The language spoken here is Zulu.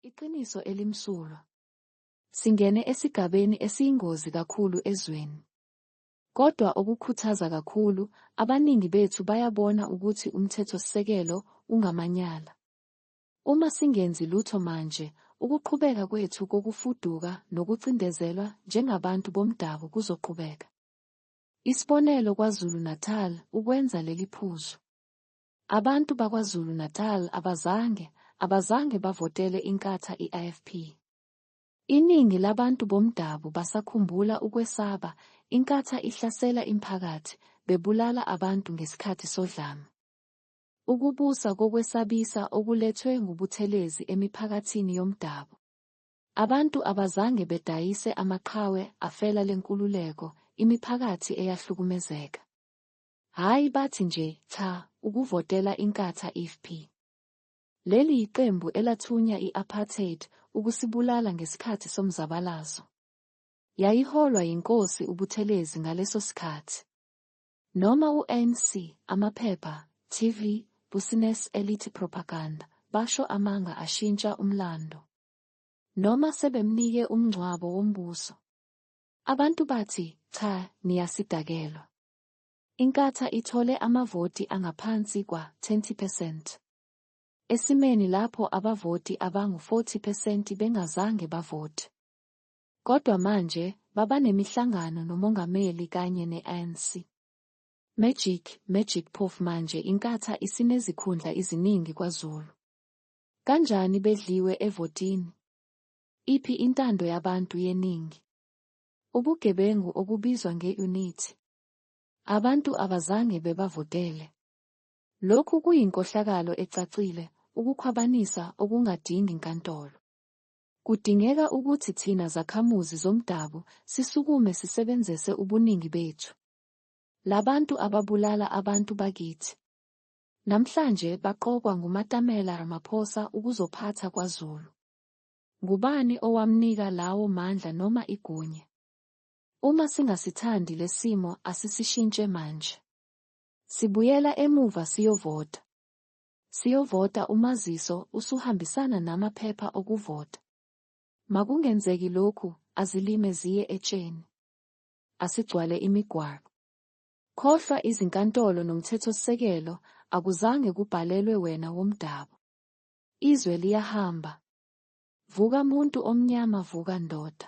Iqiniso elimsulwa. Singene esigabeni esiyingozi kakhulu ezweni. Kodwa okukhuthaza kakhulu, abaningi bethu bayabona ukuthi umthethosisekelo ungamanyala. Uma singenzi lutho manje, ukuqhubeka kwethu kokufuduka nokucindezelwa njengabantu bomdabu kuzoqhubeka. Isibonelo KwaZulu-Natal ukwenza leli phuzu. Abantu baKwaZulu Natal abazange, abazange bavotele Inkatha i-IFP. Iningi labantu bomdabu basakhumbula ukwesaba Inkatha ihlasela imphakathi, bebulala abantu ngesikhathi sodlame. Ukubusa kokwesabisa okulethwe nguButhelezi emiphakathini yomdabu. Abantu abazange bedayise amaqhawe afela lenkululeko, imiphakathi eyahlukumezeka. Hhayi bathi nje cha ukuvotela inkatha ifp. Leli yiqembu elathunya i-apartheid ukusibulala ngesikhathi somzabalazo. Yayiholwa yinkosi uButhelezi ngaleso sikhathi. Noma u-ANC, amaphepha, TV, business elithi propaganda, basho amanga ashintsha umlando. Noma sebemnike umngcwabo wombuso. Abantu bathi cha niyasidakelwa. Inkatha ithole amavoti angaphansi kwa-20 percent. Esimeni lapho abavoti abangu-40 percent bengazange bavote. Kodwa manje babanemihlangano nomongameli kanye ne-ANC. Magic, Magic Phofu manje inkatha isinezikhundla iziningi kwaZulu. Kanjani bedliwe evotini? Iphi intando yabantu yeningi? Ubugebengu okubizwa nge-unit abantu abazange bebavotele. Lokhu kuyinkohlakalo ecacile, ukukhwabanisa okungadingi nkantolo. Kudingeka ukuthi thina zakhamuzi zomdabu sisukume sisebenzese ubuningi bethu. Labantu ababulala abantu bakithi. Namhlanje baqokwa nguMatamela Ramaphosa ukuzophatha KwaZulu. Ngubani owamnika lawo mandla noma igunya? Uma singasithandi lesimo asisishintshe manje. Sibuyela emuva siyovota. Siyovota umaziso usuhambisana nama phepha okuvota. Makungenzeki lokhu azilime ziye etsheni. Asigcwale imigwaqo. Khohlwa izinkantolo nomthethosisekelo akuzange kubhalelwe wena womdabu. Izwe liyahamba. Vuka muntu omnyama vuka ndoda.